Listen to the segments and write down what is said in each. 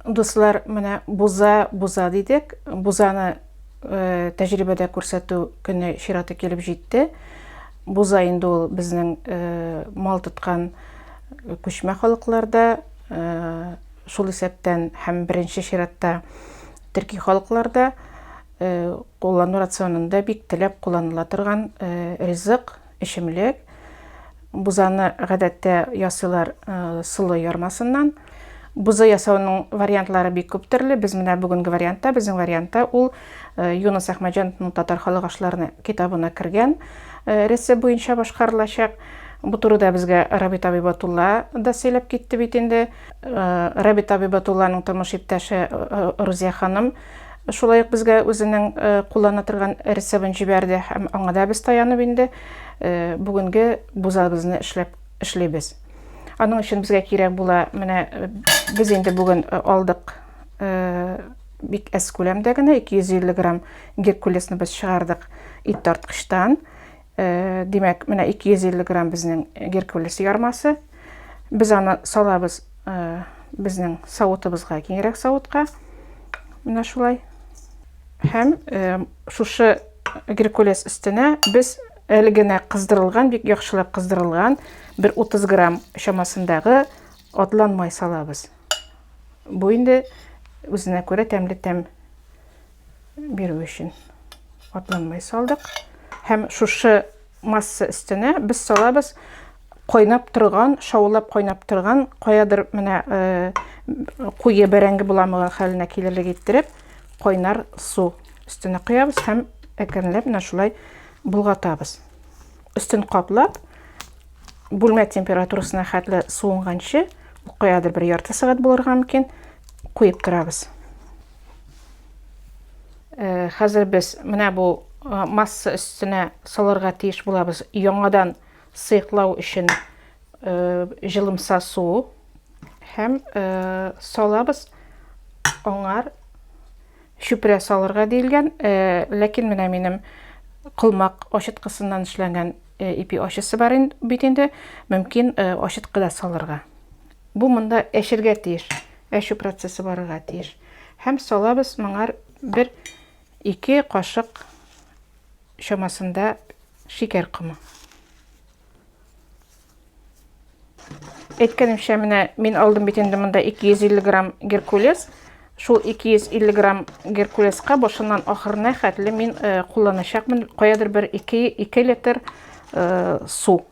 Дуслар, менә буза, буза дидек. Бузаны э, тәҗрибәдә күрсәтү көне чираты килеп җитте. Буза инде ул безнең э, мал тоткан күчмә халыкларда, э, шул исәптән һәм беренче чиратта төрки халыкларда э, куллану рационында бик теләп кулланыла торган э, ризык. Эчемлек. Бузаны гадәттә ясыйлар солы ярмасыннан. Буза ясауның вариантлары бик күп төрле. Без менә бүгенге вариантта, безнең вариантта ул Юнус Әхмәҗановның Татар халык ашларына китабына кергән рецепт буенча башкарылачак. Бу турыда безгә Рабит Абибатулла да сөйләп китте бит инде. Рабит Абибатулланың тормыш иптәше Рузия ханым Шулай ук безгә үзенең куллана торган рецебын җибәрде һәм аңа да без таянып инде бүгенге бузабызны эшләп эшлибез. Аның өчен безгә кирәк була, менә без инде бүген алдык бик әз күләмдә генә 250 грамм геркулесныбыз чыгардык ит тарткычтан. Э, димәк, менә 250 грамм безнең геркулес ярмасы. Без аны салабыз э, безнең савытыбызга, киңрәк савытка. Менә шулай. Һәм э, шушы геркулес өстенә без әле генә кыздырылган, бик яхшылап кыздырылган бер 30 грамм чамасындагы атлан май салабыз. Бу инде үзенә күрә тәмле тәм бирү өчен катланмай салдык. Һәм шушы масса өстенә без салабыз кайнап торган, шаулап кайнап торган, каядыр менә э, куе бәрәңге буламыгы хәленә килерлек иттереп, кайнар су өстенә куябыз һәм әкренләп менә шулай булгатабыз. Өстен каплап, бүлмә температурасына хәтле суынганчы, каядыр бер ярты сәгать булырга мөмкин, куеп торабыз. Э, хәзер без менә бу э, масса өстенә салырга тиеш булабыз яңадан сыйклау өчен э, җылымса су һәм салабыз аңар чүпрә салырга диелгән ләкин менә минем колмак ачыткысыннан эшләнгән ипи ачысы бар бит инде мөмкин ачыткы да салырга бу монда әчергә тиеш Әчү процессы барырга тиеш. Һәм салабыз моңар бер ике кашык чамасында шикәр комы. Әйткәнемчә, менә мин алдым бит инде монда 250 грамм геркулес. Шул 250 грамм геркулеска башыннан ахырына хәтле мин э, кулланачакмын каядыр бер 2 литр э, су.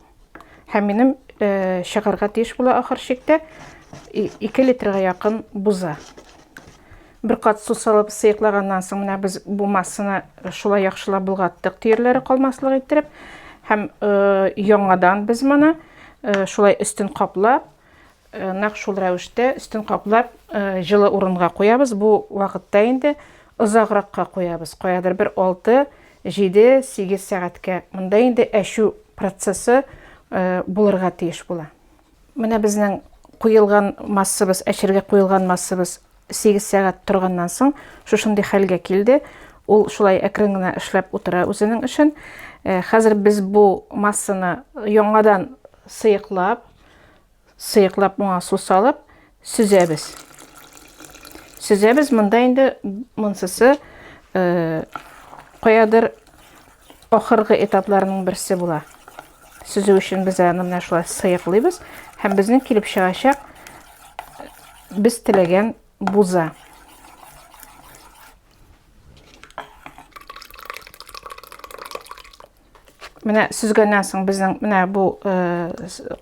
Һәм минем э, чыгарга тиеш була ахыр чиктә 2 литрга якын буза. Бер кат су салып сыйыклаганнан соң менә без бу массаны шулай яхшылап болгаттык, төерләре калмаслык иттереп. Һәм э, яңадан без моны э, шулай өстен каплап, Нәкъ шул рәвештә өстен каплап, җылы урынга куябыз. Бу вакытта инде озагракка куябыз, каядыр бер 6, 7, 8 сәгатькә. Монда инде әчү процессы булырга тиеш була. Менә безнең куелган массабыз, әчергә куелган массабыз 8 сәгать торганнан соң шушындый хәлгә килде. Ул шулай әкрен генә эшләп утыра үзенең эшен. Хәзер без бу массаны яңадан сыеклап, Сыеклап моңа су салып, сөзәбез. Сөзәбез монда инде монсысы э, каядыр ахыргы этапларының берсе була. Сүзү өчен без аны менә шулай сыйыклыйбыз һәм безнең килеп чыгачак без теләгән буза. Менә сөзгәннән соң безнең менә бу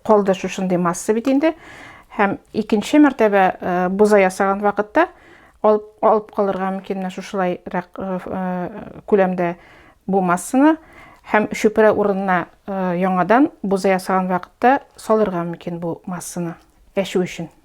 калды шушындый масса бит инде. Һәм икенче мәртәбә буза ясаган вакытта алып, алып калырга мөмкин менә шушылайрак күләмдә бу массаны һәм чүпрә урынына яңадан буза ясаган вакытта салырга мөмкин бу массаны әчү өчен.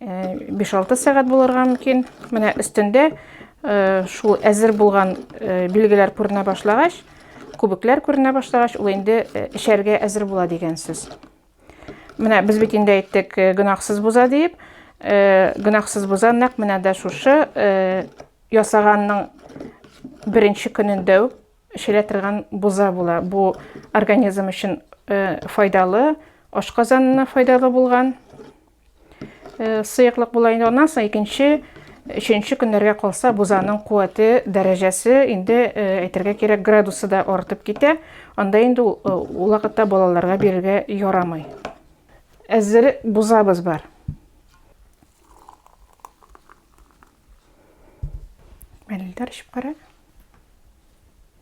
5-6 сәгать булырга мөмкин. Менә өстендә э, шул әзер булган э, билгеләр күренә башлагач, күбекләр күренә башлагач, ул инде э, эчәргә әзер була дигән сүз. Менә без бит инде әйттек, гөнаһсыз буза диеп, гөнаһсыз буза нәкъ менә дә шушы ясаганның беренче көнендә үк эчелә торган буза була. Бу организм өчен файдалы, ашказанына файдалы булган Э, сыеклык була инде аннан соң икенче өченче көннәргә калса бузаның куәте дәрәҗәсе инде э, әйтергә кирәк градусы да артып китә анда инде ул э, вакытта балаларга бирергә ярамый әзер бузабыз бар мәлилдәр эчеп кара